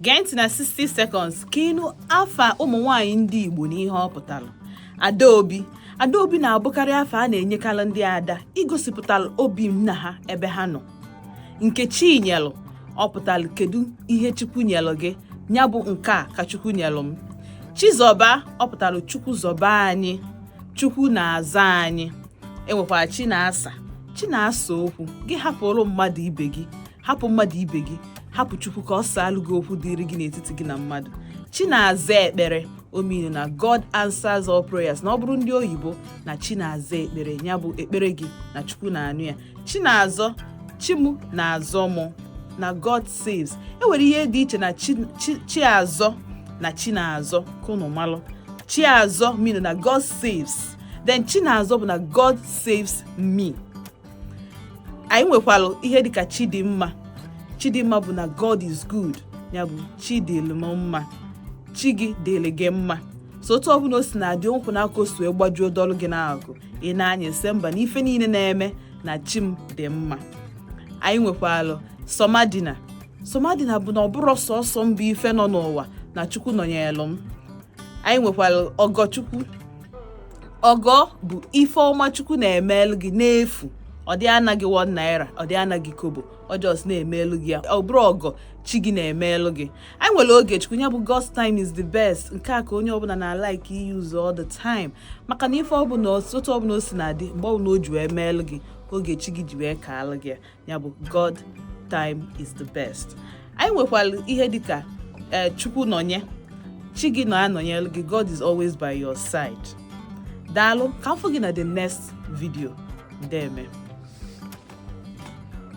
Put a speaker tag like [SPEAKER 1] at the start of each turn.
[SPEAKER 1] gee ntị na 60 seconds ka ị nụ afa ụmụ nwaanyị ndị Igbo na ihe ọ pụtara Adaobi Adaobi na-abụkarị afa a na-enyekarị ndị ada igosipụtara obi nna ha ebe ha nọ Nkechinyelụ ọ pụtara kedu ihe Chukwu nyelụ gị nya bụ nke a ka Chukwu nyelụ m Chizọba ọ pụtara Chukwu zọba anyị Chukwu na-aza anyị e nwekwara Chinasa Chi na-asa okwu gị hapụrụ mmadụ ibe gị hapụ mmadụ ibe gị hapụ chukwu ka ọ saalụ gị okwu dịrị gị n'etiti gị na mmadụ Chinazaekpere ọ mean na god answers all prayers na ọ bụrụ ndị oyibo na chi na-aza ekpere ya bụ ekpere gị na chukwu na-anụ ya Chinazọ chi mụ na-azọ mụ na god saves e nwere ihe dị iche na chi chi- Chiazọ na Chinazọ ka unu malụ Chiazọ mean na god saves then Chinazọ bụ na god saves me anyị nwekwara ihe dịka chidimma chidimma bụ na god is good ya bụ chi dịlị m mma chi gị dịlị gị mma so otu ọbụla o si na-adị nkwụ n'aka o si wee gbajuo dọlụ gị n'akụ ị na-anya isi mba na ife niile na-eme na chi m dị mma anyị nwekwara somadina somadina bụ na ọ bụrọ sọsọ m bụ ife nọ n'ụwa na chukwu nọnyelụ m anyị nwekwara ọgọchukwu ọgọ bụ ife ọma chukwu na-emelu gị n'efu ọ dị ana gị one naira ọ dị ana gị kobo ọ just na-emelu gị ya ọ bụrụ ọgọ chi gị na-emelu gị anyị nwere Ogechukwu ya bụ God's time is the best nke a ka onye ọbụla na-alike iuse all the time maka na ife ọbụla otu ọbụla o si na-adị mgbe ọbụla o ji wee meelu gị oge chi gị ji wee kaalụ gị ya ya bụ God time is the best anyị nwekwara ihe dịka eh, Chukwunọnye chi gị na-anọnyelụ gị God is always by your side daalụ ka m fụ gị na the next video deeme